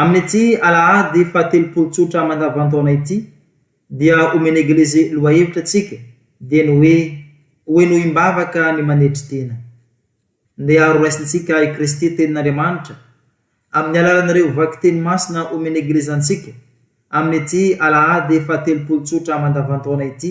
Amin'ity alahady fahatelopolo tsotra mandavan-taona ity dia omen'ny Eglizy lohahevitra antsika dia ny hoe Ho henoim-bavaka ny manetry tena. Ndeha horaisintsika i Kristy Tenin'Andriamanitra amin'ny alalan'ireo vakiteny masina omen'ny Eglizy antsika amin'ity alahady fahatelopolo tsotra mandavan-taona ity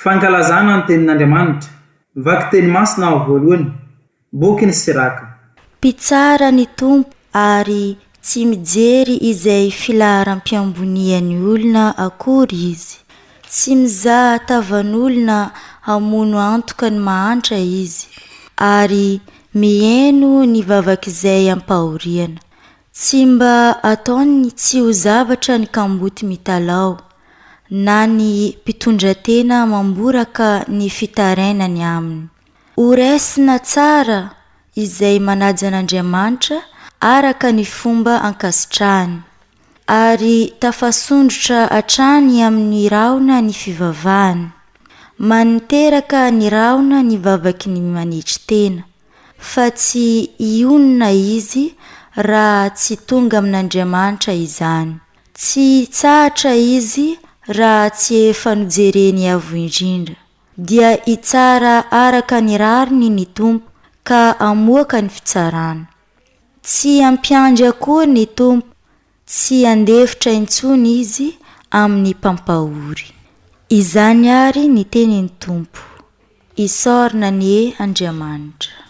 Fankalazana ny tenin'Andriamanitra. Vaky teny masina aho voalohany. Boky ny Siraka. Mpitsara ny Tompo ary tsy mijery izay filaharam-piambonian'ny olona akory Izy. Tsy mizaha tavan'olona hamono antoka ny mahantra Izy, ary miheno ny vavak'izay ampahoriana. Tsy mba ataony tsy ho zavatra ny kamboty mitalaho, na ny mpitondratena mamboraka ny fitarainany aminy. Ho raisina tsara izay manaja an'Andriamanitra araka ny fomba ankasitrahany, ary tafasondrotra hatrany amin'ny rahona ny fivavahany. Maniteraka ny rahona ny vavaky ny manetry tena, fa tsy hionona izy raha tsy tonga amin'Andriamanitra izany. Tsy hitsahatra izy raha tsy efa nojereny avo indrindra. Dia hitsara araka ny rariny ny Tompo ka hamoaka ny fitsarana. Tsy hampiandry akory ny Tompo, tsy handefitra intsony Izy amin'ny mpampahory. Izany àry ny tenin'ny Tompo. Isaorana anie Andriamanitra.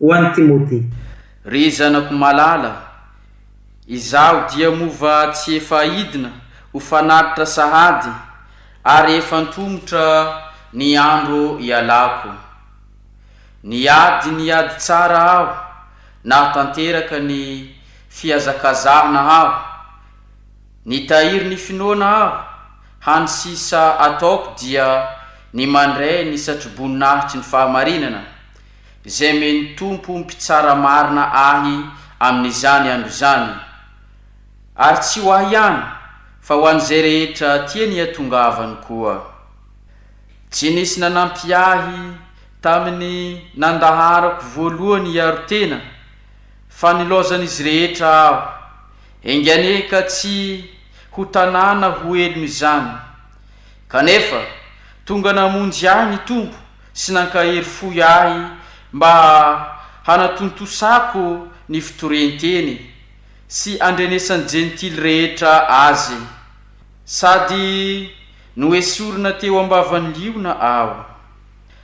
Ho an'i Timothée. Ry zanako malala, izaho dia moa va tsy efa aidina ho fanatitra sahady, ary efa antomotra ny andro ialako? Niady ny ady tsara aho, nahatanteraka ny fihazakazahana aho, nitahiry ny finoana aho, hany sisa ataoko dia ny mandray ny satroboninahitry ny fahamarinana, izay omen'ny Tompo mpitsara marina ahy amin'izany andro izany, ary tsy ho ahy ihany fa ho an'izay rehetra tiany hiatongavany koa. Tsy nisy nanampy ahy tamin'ny nandaharako voalohany hiaro tena, fa nilaozan'izy rehetra aho. Enga anie ka tsy ho tanàna ho helony izany! Kanefa, tonga namonjy ahy ny Tompo sy nankahery fohy ahy mba hanatontosako ny fitorienteny sy andrenesan'ny Jentily rehetra Azy. Sady noesorina teo ambavan'ny liona aho.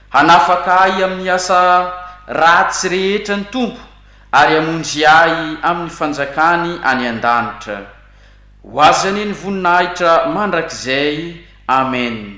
Hanafaka ahy amin'ny asa ratsy rehetra ny Tompo ary hamonjy ahy amin'ny fanjakany any an-danitra. Ho Azy anie ny voninahitra mandrakizay. Amena.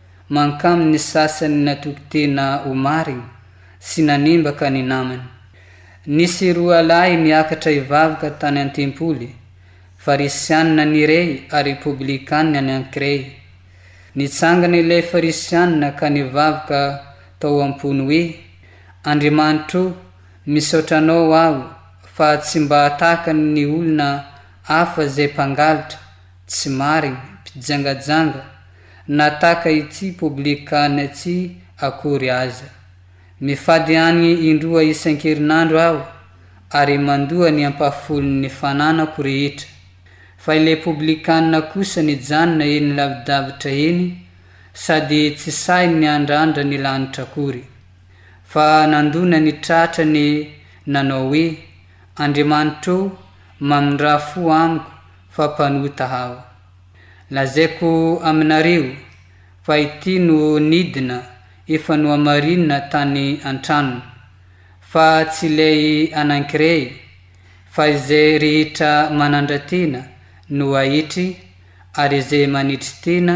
Mankamy ny sasany natoky tena ho marigny sy nanembaka ny namany. Nisy roa lahy niakatra hivavaka tany an-tempoly, Farisianina ny iray ary Poblikanina ny ankiray. Nitsangana ilay Farisianina ka nivavaka tao am-pony hoe, Andriamanitro o, misaotra Anao aho fa tsy mba tahaka ny olona hafa izay mpangalatra Tsy marigny, mpijangajanga na taka ity poblikanina ty akory aza. Mifady agny indroa isankerinandro aho ary mandoa ny ampahafolon ny fananako rehetra. Fa ilay poblikanina kosa nijanona eny lavidavitra eny sady tsy sahy niandrandra ny lanitra akory. Fa nandona ny tratra ne nanao hoe, Andriamanitrô, mamindrà fo amiko fa mpanota hawa. Lazaiko aminareo fa ity no nidina efa nohamarinina tany an-tranony, fa tsy ilay anankiray, fa izay rehetra manandra-tena no ahitry, ary izay manetry tena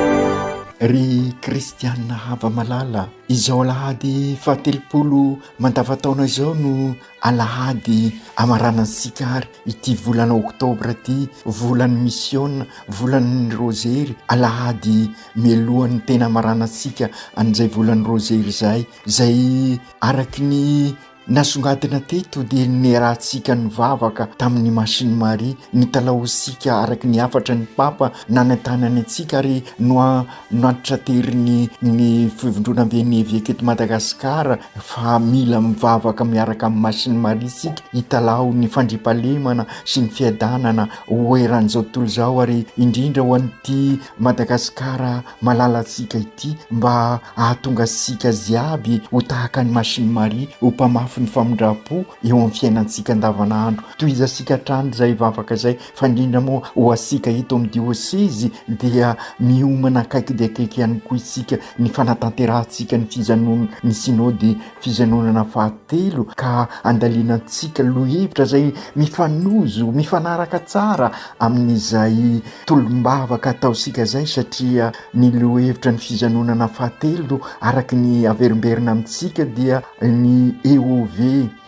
Ry kristianina hava-malala, izao alahady fahatelopolo mandavan-taona izao no alahady hamaranantsika àry ity volana oktobra ity, volan'ny misiôna, volan'ny rôzery, alahady mialohan'ny tena hamaranantsika an'izay volan'ny rôzery izay, izay araka ny. Nasongadina teto dia niarahantsika nivavaka tamin'ny Masin'i Maria, nitalahoantsika araka ny hafatra ny Papa nanentanany antsika ary noantitranterin'ny ny Fivondronamben'ny Eveka eto Madagasikara fa mila mivavaka miaraka amin'i Masin'i Maria isika hitalaho ny fandriampahalemana sy ny fiadanana ho eran'izao tontolo izao ary indrindra ho an'ity Madagasikara malalantsika ity mba hahatonga antsika jiaby ho tahaka an'i Machine Marie ho mpamafy ny famindram-po eo amin'ny fiainantsika andavanandro. Tohizantsika hatrany izay vavaka izay fa indrindra moa ho antsika eto amin'ny diôsezy dia miomana akaiky dia akaiky ihany koa isika ny fanatanterahantsika ny fijanon'ny Synody Fijanonana fahatelo ka andalinantsika lohahevitra izay mifanojo, mifanaraka tsara amin'izay tolom-bavaka ataontsika izay satria ny lohahevitra ny fijanonana fahatelo araka ny averimberina amintsika dia ny EOV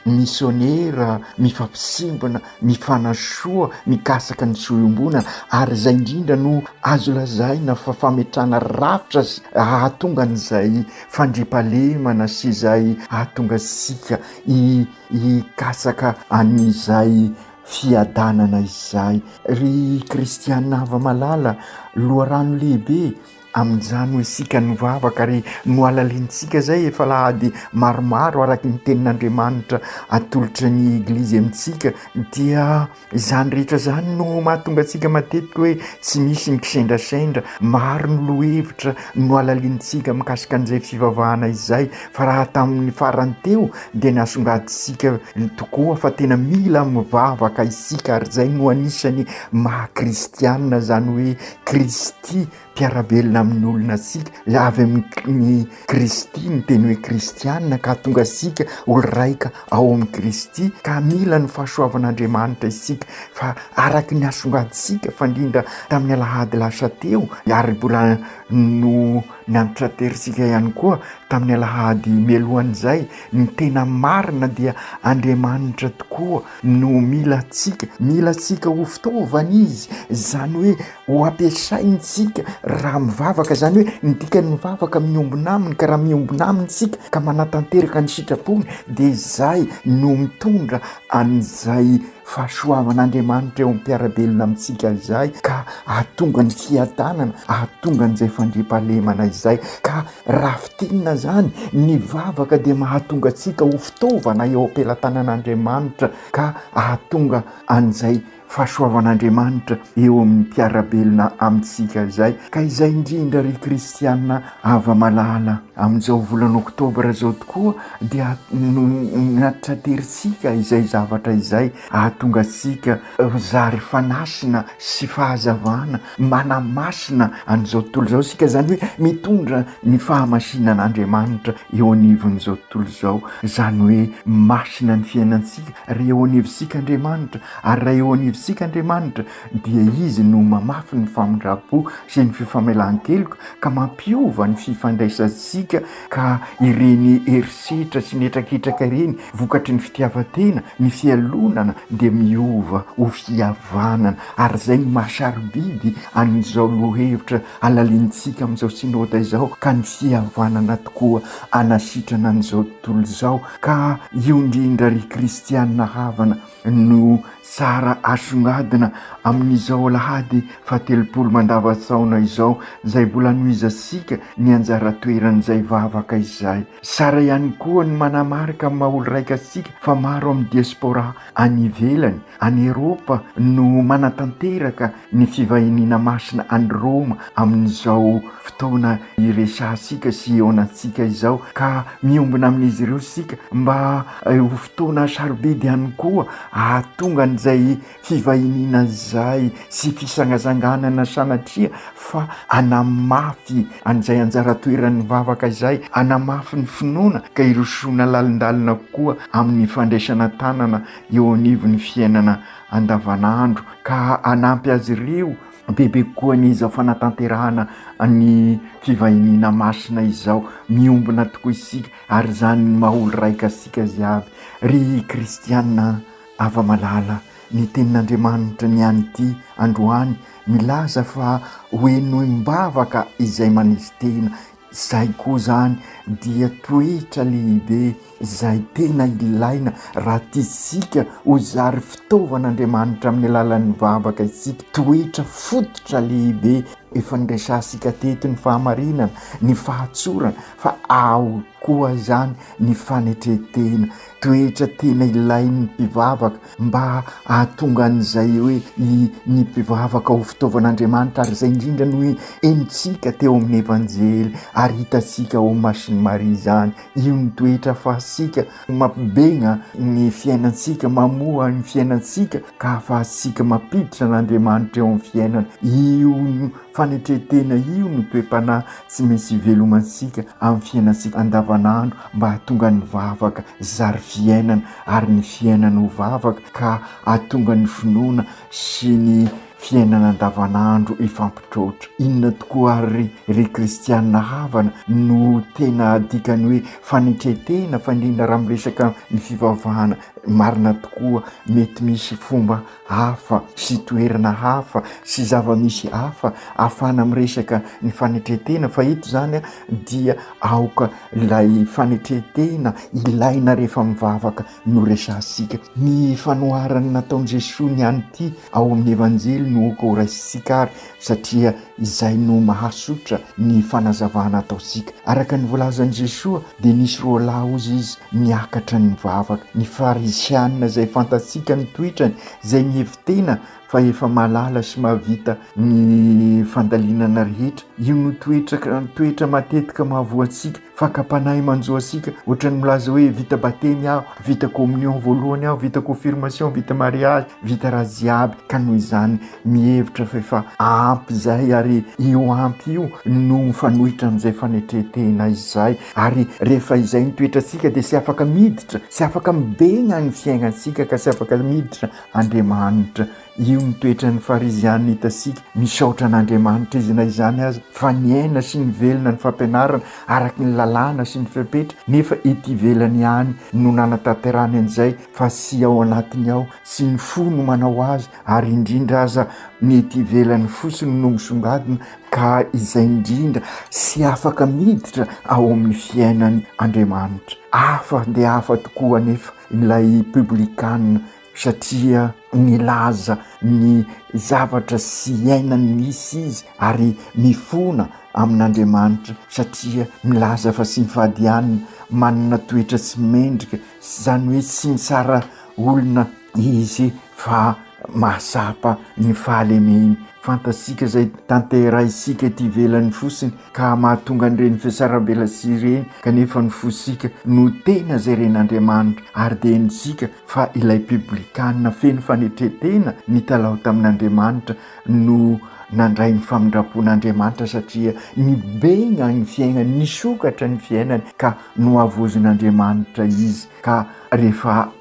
misionera mifampisimbina, mifanasoa mikasaka ny soa iombonana ary izay indrindra no azo lazaina fa fametrahana rafitra hahatonga an'izay fandriampahalemana sy izay hahatonga antsika hikatsaka an'izay fiadanana izay. Ry kristiana hava-malala, loharano lehibe amin'izany ho isika nivavaka ary nohalalinintsika izay efa alahady maromaro araka ny tenin'Andriamanitra atolotry ny Eglizy amintsika dia Izany rehetra izany no mahatonga antsika matetika hoe tsy misy ny kisendrasendra, maro ny lohahevitra nohalalinintsika mikasika an'izay fivavahana izay fa raha tamin'ny farany teo dia nasongadintsika tokoa fa tena mila mivavaka isika ary izay no anisany maha kristiana izany hoe Kristy mpiara-belona amin'ny olona isika, avy amin'i Kristy ny teny hoe kristiana ka hahatonga antsika ho raika ao amin'i Kristy ka mila ny fahasoavan'Andriamanitra isika fa araka ny hasongantsika fandrindra tamin'ny alahady lasa teo ary mbola no nampitraterisika ihany koa tamin'ny alahady mialohan'izay ny tena marina dia Andriamanitra tokoa no mila antsika, mila antsika ho fitaovana izy izany hoe Ho ampiasaintsika raha mivavaka, izany hoe ny dikan'ny mivavaka miombona aminy, ka raha miombona aminy isika ka manatanteraka ny sitrapony dia izay no mitondra an'izay fahasoavan'Andriamanitra eo am-piarabelona amintsika izay ka ahatonga ny fiadanana, ahatonga an'izay fandriampahalemana izay. Ka raha fintinina izany, ny vavaka dia mahatonga antsika ho fitaovana eo am-pelatanan'Andriamanitra ka ahatonga an'izay. Fahasoavan'Andriamanitra eo amin'ny mpiara-belona amintsika izay, ka izay indrindra ry kristiana hava-malala. Amin'izao volana oktobra izao tokoa dia notraterintsika izay zavatra izay hahatonga antsika ho zary fanasina sy fahazavana, manamasina an'izao tontolo izao isika, izany hoe mitondra ny fahamasinan'Andriamanitra eo anivon'izao tontolo izao, izany hoe masina ny fiainantsika, ary eo anivontsika Andriamanitra Ary raha eo anivontsika Andriamanitra dia Izy no mamafy ny famindram-po sy ny fifamelan-keloka ka mampiova ny fifandraisantsika ka ireny herisetra sy ny hetraketraka ireny vokatry ny fitiavan-tena, ny fialonana dia miova ho fihavanana ary izay no maha sarobidy an'izao lohahevitra halalinintsika amin'izao Synode izao ka ny fihavanana tokoa hanasitrana an'izao tontolo izao ka io indrindra ry Kristiana havana no tsara asongadina amin'izao alahady fahatelopolo mandavan-tsaona izao izay mbola anohizantsika ny anjara toeran'izay vavaka izay. Tsara ihany koa ny manamarika amin'ny maha olo-raika antsika fa maro amin'ny diaspora any ivelany, any Eropa no manatanteraka Ny fivahiniana masina any Roma amin'izao fotoana iresahantsika sy ihaonantsika izao, ka miombona amin'izy ireo isika, mba ho fotoana sarobidy ihany koa hahatonga an'izay fivahiniana izay sy fisangasanganana sanatria fa hanamafy an'izay anjara toeran'ny vavaka izay, hanamafy ny finoana ka hirosoana lalindalina kokoa amin'ny fandraisana tanana eo anivon'ny fiainana andavanandro ka hanampy azy ireo bebe kokoa ny izao fanatanterahana ny fivahiniana masina izao. Miombona tokoa isika ary izany no maha olo-raika antsika ziaby. Ry kristiana an! Ava malala ny tenin'Andriamanitra ny an'ity androany milaza fa ho henoim-bavaka izay maneso tena. Izay koa izany dia toetra lehibe izay tena ilaina raha tiantsika ho zary fitaovan'Andriamanitra amin'ny alalan'ny vavaka isika. Toetra fototra lehibe efa niresahantsika teto ny fahamarinana, ny fahatsorana fa ao koa izany ny fanetren-tena. Toetra tena ilain'ny mpivavaka mba hahatonga an'izay hoe ny ny mpivavaka ho fitaovan'Andriamanitra ary izay indrindra no henontsika teo amin'ny Evanjely ary hitantsika ao amin'ny masin'i Maria izany, io ny toetra afahantsika mampibegna ny fiainantsika, mamoha ny fiainantsika ka afahantsika mampiditra an'Andriamanitra eo amin'ny fiainana, io fanetren-tena io no toe-panahy tsy maintsy hivelomantsika amin'ny fiainantsika andavan'andro mba hahatonga ny vavaka zary fiainana. ary ny fiainany ho vavaka ka hahatonga ny finoana sy ny fiainana andavanandro hifampitroatra. Inona tokoa àry ry kristiana havana no tena dikan'ny hoe fanetren-tena fa indrindra raha miresaka ny fivavahana marina tokoa? Mety misy fomba hafa sy toerana hafa sy zava-misy hafa ahafahana miresaka ny fanetren-tena fa eto izany dia aoka ilay fanetren-tena ilaina rehefa mivavaka no resahantsika. Ny fanoharana nataon'i Jesoa ny an'ity ao amin'ny Evanjely no aoka horaisintsika ary satria izay no mahasotra ny fanazavana ataontsika. Araka ny voalazan'i Jesoa dia nisy roa lahy hozy izy niakatra nivavaka, ny farisianina izay fantatsika ny toetrany izay mihevi-tena fa efa mahalala sy mahavita ny fandalinana rehetra, io no toetra toetra matetika mahavoa antsika Fakam-panahy manjo antsika ohatran'ny milaza hoe vita batemy aho, vita communion voalohany aho, vita confirmation, vita mariage, vita raha jiaby ka noho izany mihevitra fa efa ampy izay ary io ampy io no mifanohitra amin'izay fanetren-tena izay ary rehefa izay ny toetrantsika dia tsy afaka miditra, tsy afaka mibeny any fiainan-tsika ka tsy afaka miditra Andriamanitra. Io ny toetran'ny Farizianina hitantsika. Misaotra an'Andriamanitra izy na izany aza fa niaina sy nivelona ny fampianarana araka ny lalàna sy ny fepetra, nefa ety ivelany ihany no nanatanterahany an'izay fa tsy ao anatiny ao, tsy ny fo no manao azy ary indrindra aza ny ety ivelany fotsiny no misongadina ka izay indrindra tsy afaka miditra ao amin'ny fiainany Andriamanitra. Hafa dia hafa tokoa anefa ilay Publikana satria milaza ny zavatra sy iainany misy izy ary mifona amin'Andriamanitra satria milaza fa tsy mifadianina, manana toetra tsy mendrika, izany hoe tsy mitsara olona izy fa mahatsapa ny fahalemeny. Fantatsika izay tanterahintsika ety ivelany fotsiny ka mahatonga an'ireny fiasarambelatsihy ireny kanefa ny fontsika no tena izay ren'Andriamanitra ary dia henontsika fa ilay Piblikana feno fanetren-tena nitalaho tamin'Andriamanitra no nandray ny famindram-pon'Andriamanitra satria nibenga ny fiaignany, nisokatra ny fiainany ka nohavozin'Andriamanitra izy ka rehefa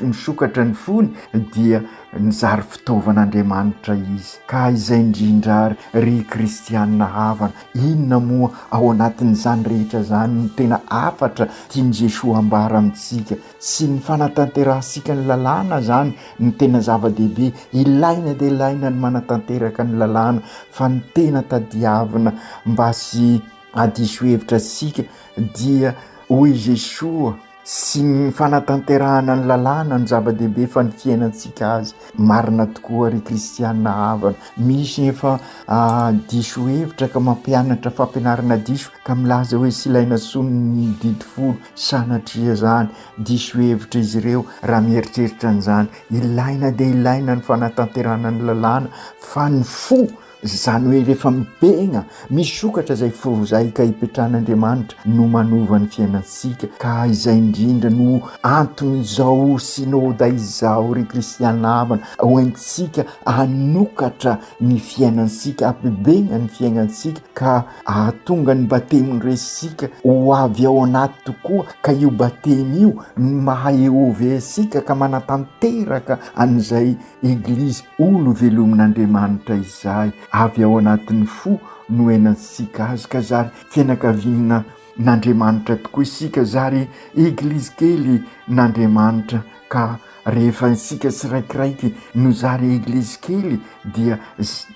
nisokatra ny fony dia nizary fitaovan'Andriamanitra izy ka izay indrindra ary ry kristiana havana. Inona moa ao anatin'izany rehetra izany no tena hafatra tian'i Jesoa ambara amintsika? sy ny fanatanterahantsika ny lalàna izany no tena zava-dehibe, ilaina dia ilaina ny manatanteraka ny lalàna fa ny tena tadiavina mba sy hadiso hevitra antsika dia hoy i Jesoa sy ny fanatanterahana ny lalàna no zava-dehibe fa ny fiainantsika azy, marina tokoa ry kristiana havana, misy efa diso hevitra ka mampianatra fampianarana diso ka milaza hoe sy ilay nasonin'ny didy folo Sanatria izany diso hevitra izy ireo raha mieritreritra an'izany. Ilaina dia ilaina ny fanatanterahana ny lalàna fa ny fo, izany hoe rehefa mibegna, misokatra izay forozaika ipetran'Andriamanitra no manova ny fiainantsika ka izay indrindra no anton'izao Synoda izao ry kristiana havana ho entintsika hanokatra ny fiainantsika, hampibegna ny fiaignantsika ka Hahatonga ny batemin'i Resika ho avy ao anaty tokoa ka io batemy io no maha EOV antsika ka manatanteraka an'izay Eglizy olo velomin'Andriamanitra izay avy ao anatin'ny fo noenantsika Azy ka zary fianakaviana n'Andriamanitra tokoa isika zary eglizy kely n'Andriamanitra ka rehefa isika tsiraikiraiky no zary eglizy kely dia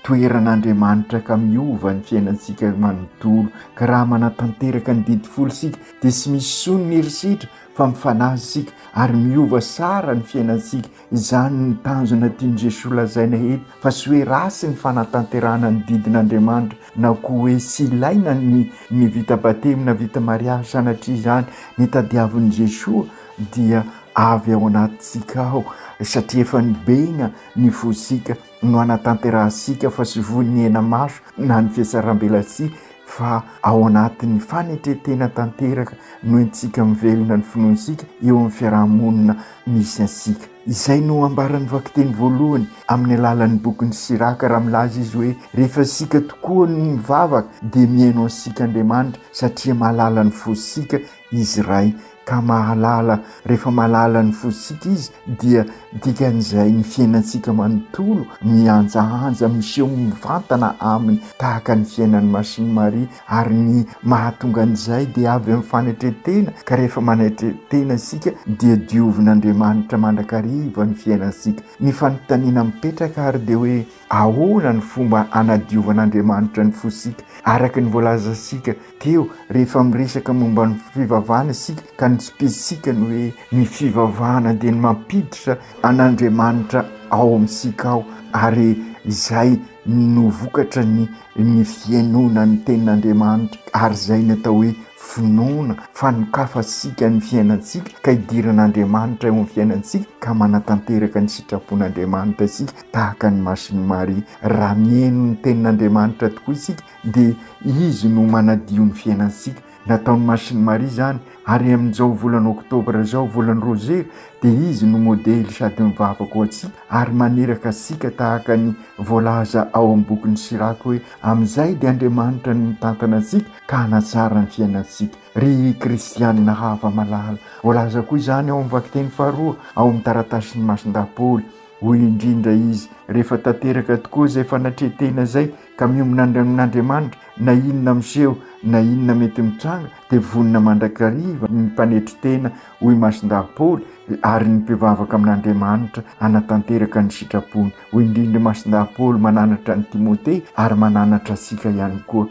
toeran'Andriamanitra ka miova ny fiainantsika manontolo ka raha manatanteraka ny didy folo isika dia tsy misy sony ny herisetra fa mifanaja isika ary miova sara ny fiainantsika Izany no tanjona tian'i Jesoa holazaina eto, fa tsy hoe ratsy ny fanatanterahana ny didin'Andriamanitra na koa hoe tsy ilaina ny ny vita batemy na vita mariazy sanatria izany ny tadiavin'i Jesoa dia avy ao anatintsika ao satria efa nibeny ny fontsika no hanatanterahantsika fa tsy voa ny henamaso na ny fihatsarambelatsihy fa ao anatin'ny fanetren-tena tanteraka no entintsika mivelona ny finoantsika eo amin'ny fiaraha-monina misy antsika. Izay no ambaran'ny vakiteny voalohany amin'ny alalan'ny bokin'i Siraka raha milaza izy hoe rehefa isika tokoa no mivavaka dia mihaino antsika Andriamanitra satria mahalala ny fontsika Izy Ray ka mahalala, rehefa mahalala ny fositsika Izy dia dikan'izay ny fiainantsika manontolo mihanjahanja miseho mivantana Aminy tahaka ny fiainan'ny Masin'i Maria ary ny mahatonga an'izay dia avy amin'ny fanetren-tena ka rehefa manetren-tena isika dia diovin'Andriamanitra mandrakariva ny fiainantsika. Ny fanontaniana mipetraka ary dia hoe. Ahoana no fomba hanadiovan'Andriamanitra ny fosika? Araka ny voalazantsika teo, rehefa miresaka momba ny fivavahana isika ka ny spirintsika ny hoe ny fivavahana dia ny mampiditra an'Andriamanitra ao amintsika ao ary izay no vokatra ny ny fihainoana ny tenin'Andriamanitra ary izay ny atao hoe finoana fa nokafantsika ny fiainantsika ka idiran'Andriamanitra eo amin'ny fiainantsika ka manatanteraka ny sitrapon'Andriamanitra isika tahaka ny masin'i Maria. Raha mihaino ny tenin'Andriamanitra tokoa isika dia Izy no manadio ny fiainantsika. Nataon'ny masin'i Maria izany ary amin'izao volana oktobra izao, volan'ny Rosera, dia Izy no modely sady mivavaka ho antsika ary maniraka antsika tahaka ny voalaza ao amin'ny bokin'i Siraka hoe, Amin'izay dia Andriamanitra no mitantana antsika ka hanatsara ny fiainantsika. Ry kristianina hafa malala, voalaza koa izany ao amin'ny vakiteny faharoa ao amin'ny taratasin'i Masindahy Paoly. Hoy indrindra izy, Rehefa tanteraka tokoa izay fanatrehan-tena izay ka miombona amin'Andriamanitra, na inona miseho na inona mety mitranga, dia vonona mandrakariva ny mpanetry tena, hoy i Masindahy Paoly, ary ny mpivavaka amin'Andriamanitra hanatanteraka ny sitrapony. Hoy indrindra i Masindahy Paoly mananatra an'i Timothée ary mananatra antsika ihany koa,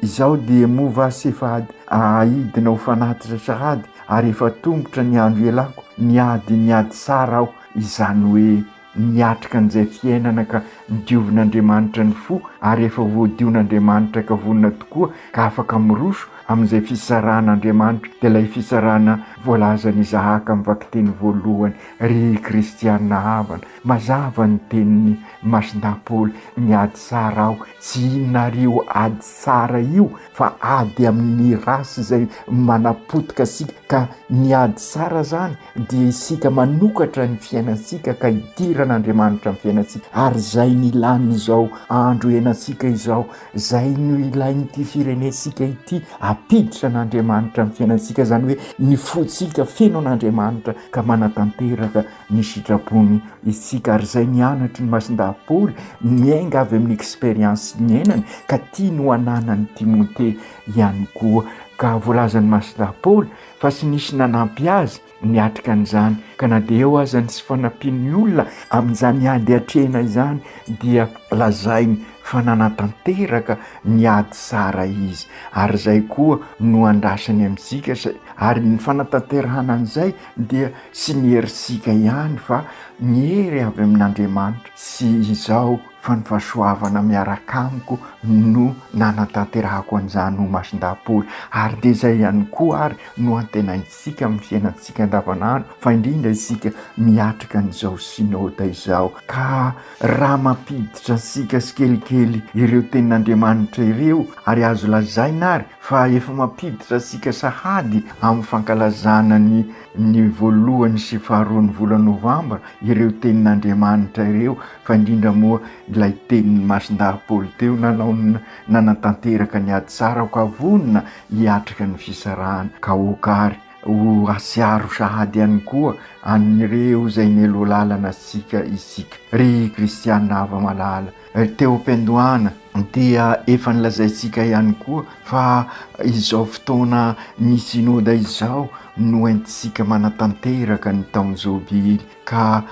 Izaho dia moa va sy efa ady ahidina ho fanatitra sahady, ary efa tombotra ny andro ialako, niady niady tsara aho, izany hoe niatrika an'izay fiainana ka nidiovin'Andriamanitra ny fo ary efa voadion'Andriamanitra ka vonona tokoa ka afaka miroso amin'izay fisarahan'Andriamanitra dia ilay fisarahana voalazan'i Isahaka amin'ny vakiteny voalohany ry kristiana havana mazava ny tenin'i Masindahy Paoly miady tsara aho tsy inona ary io ady tsara io fa ady amin'ny race izay manapotika antsika ka ny ady tsara izany dia isika manokatra ny fiainantsika ka hidiran' Andriamanitra ny fiainantsika ary izay no ilan'izao andro iainantsika izao, izay no ilain'ity firenentsika ity, ampiditra an'Andriamanitra ny fiainantsika izany hoe ny fontsika feno an'Andriamanitra ka manatanteraka. Ny sitrapony isika ary izay nianatry ny Masindahy Paoly, niainga avy amin'ny expérience niainany ka tiany ho ananan'i Timothée ihany koa. Ka voalazan'i Masindahy Paoly fa tsy nisy nanampy azy niatrika an'izany, ka na dia eo aza ny tsy fanampian'ny olona amin'izany ady atrehina izany dia lazainy fa nanatanteraka ny ady tsara izy, ary izay koa no andrasany amintsika, ary ny fanatanterahana an'izay dia tsy ny herintsika ihany fa ny hery avy amin'Andriamanitra sy izaho fa ny fahasoavana miaraka amiko no nanatanterahako an'izany ho masin-dahapory ary dia izay ihany koa ary no antenaintsika amin'ny fiainantsika andavanandro fa indrindra isika miatrika an'izao Synode izao ka Raha mampiditra antsika tsikelikely ireo tenin'Andriamanitra ireo, ary azo lazaina àry fa efa mampiditra antsika sahady amin'ny fankalazana ny ny voalohany sy faharoan'ny volana novambra ireo tenin'Andriamanitra ireo, fa indrindra moa ilay tenin'ny Masindahy Paoly teo nanao ny nanatanteraka ny ady tsara, ka vonona hiatrika ny fisarahana. Ka aoka àry. Ho asiaro sahady ihany koa an'ireo izay nelo lalana antsika isika. Ry kristiana hava-malala, teo am-piandohana dia efa nolazaintsika ihany koa fa izao fotoana ny Synoda izao no entintsika manatanteraka ny taon-jobily ka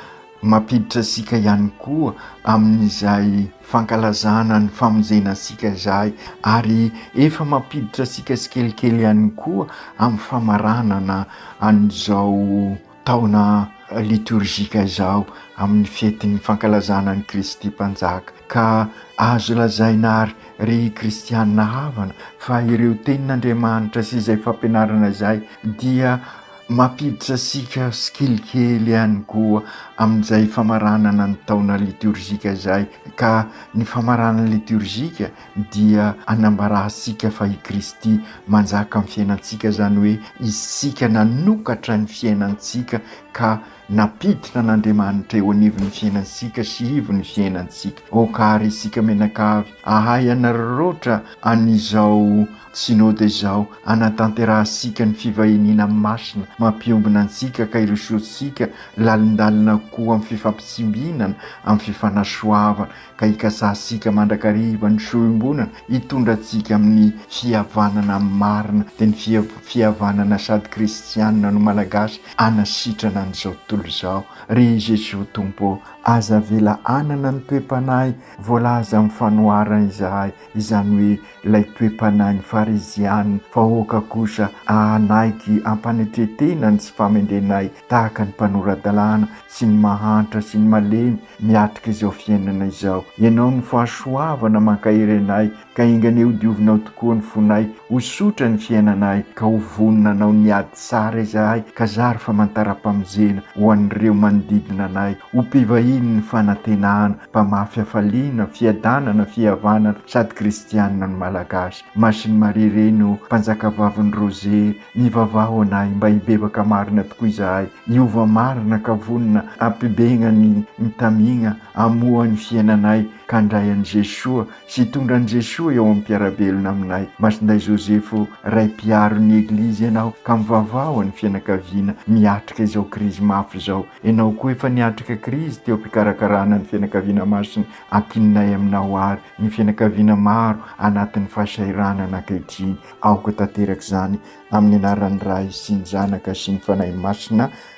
Mampiditra antsika ihany koa amin'izay fankalazana ny famonjena antsika izay ary efa mampiditra antsika tsikelikely ihany koa amin'ny famaranana an'izao taona litorjika izao amin'ny fetin'ny fankalazana an'i Kristy Mpanjaka. Ka azo lazaina àry, ry kristiana havana, fa ireo tenin'Andriamanitra sy izay fampianarana izay dia Mampiditra antsika skill kely ihany koa amin'izay famaranana ny taona litiorjika izay ka ny famaranana litiorjika dia anambarantsika fa i Kristy manjaka amin'ny fiainantsika izany hoe isika nanokatra ny fiainantsika ka nampiditra an'Andriamanitra eo anivon'ny fiainantsika sy ivon'ny fiainantsika. Aoka àry isika mianakavy hahay hanararaotra an'izao Synoda izao anatanterahantsika ny fivahiniana masina mampiombona antsika ka irosoantsika lalindalina koa amin'ny fifampitsimbinana, amin'ny fifanasoavana, ka ikasahantsika mandrakariva ny soa iombonana hitondra antsika amin'ny fihavanana marina, dia ny fihavanana sady kristianina no Malagasy hanasitrana an'izao tontolo izao. Ry Jesoa Tompo ô! Aza avela hanana ny toe-panahy voalaza amin'ny fanoharana izahay, izany hoe Ilay toe-panahin'ny Farizianina vahoaka kosa ahanaiky ampanetren-tena ny tsy famendrenay tahaka ny mpanora-dalàna sy ny mahantra sy ny malemy miatrika izao fiainana izao. Ianao no fahasoavana mankahery anay, ka enganie ho diovinao tokoa ny fonay, ho sotra ny fiainanay, ka ho vonona hanao ny ady tsara izahay, ka zary famantaram-pamonjena ho an'ireo manodidina anay, ho mpivahinin'ny fanantenana. Mpamafy hafaliana, fiadanana, fihavanana sady kristianina ny Malagasy. Masin'i Maria Reny ô, Mpanjakavavin'ny Rose, mivavaha ho anay mba hibebaka marina tokoa izahay, hiova marina ka vonona hampibegna ny mitamigna hamoha ny fiainanay ka handray an'i Jesoa sy hitondra an'i Jesoa eo am-piarabelona aminay. Masindahy Josepho, Ray Mpiaro ny Eglizy ianao ka mivavaha ho an'ny fianakaviana miatrika izao krizy mafy izao. Ianao koa efa niatrika krizy teo am-pikarakarana ny fianakaviana masina. Ankininay aminao àry ny fianakaviana maro anatin'ny fahasahiranana ankehitriny. Aoka tanteraka izany amin'ny anaran'ny Ray sy ny Zanaka sy ny Fanahy Masina.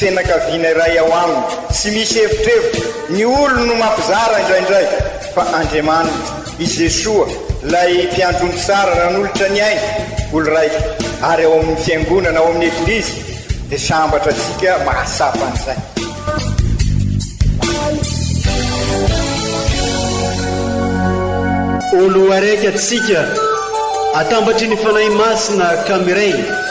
Fianakaviana iray ao aminy. Tsy misy evitrevitra, ny olony no mampizara indraindray, fa Andriamaniny, i Jesoa, ilay Mpiandry omby tsara nanolotra ny ainy, olon-raitra, ary ao amin'ny Fiangonana, ao amin'ny Eglizy, dia sambatra antsika mahatsapa an'izay. Olo araiky atsika, atambatry ny Fanahy Masina ka miray.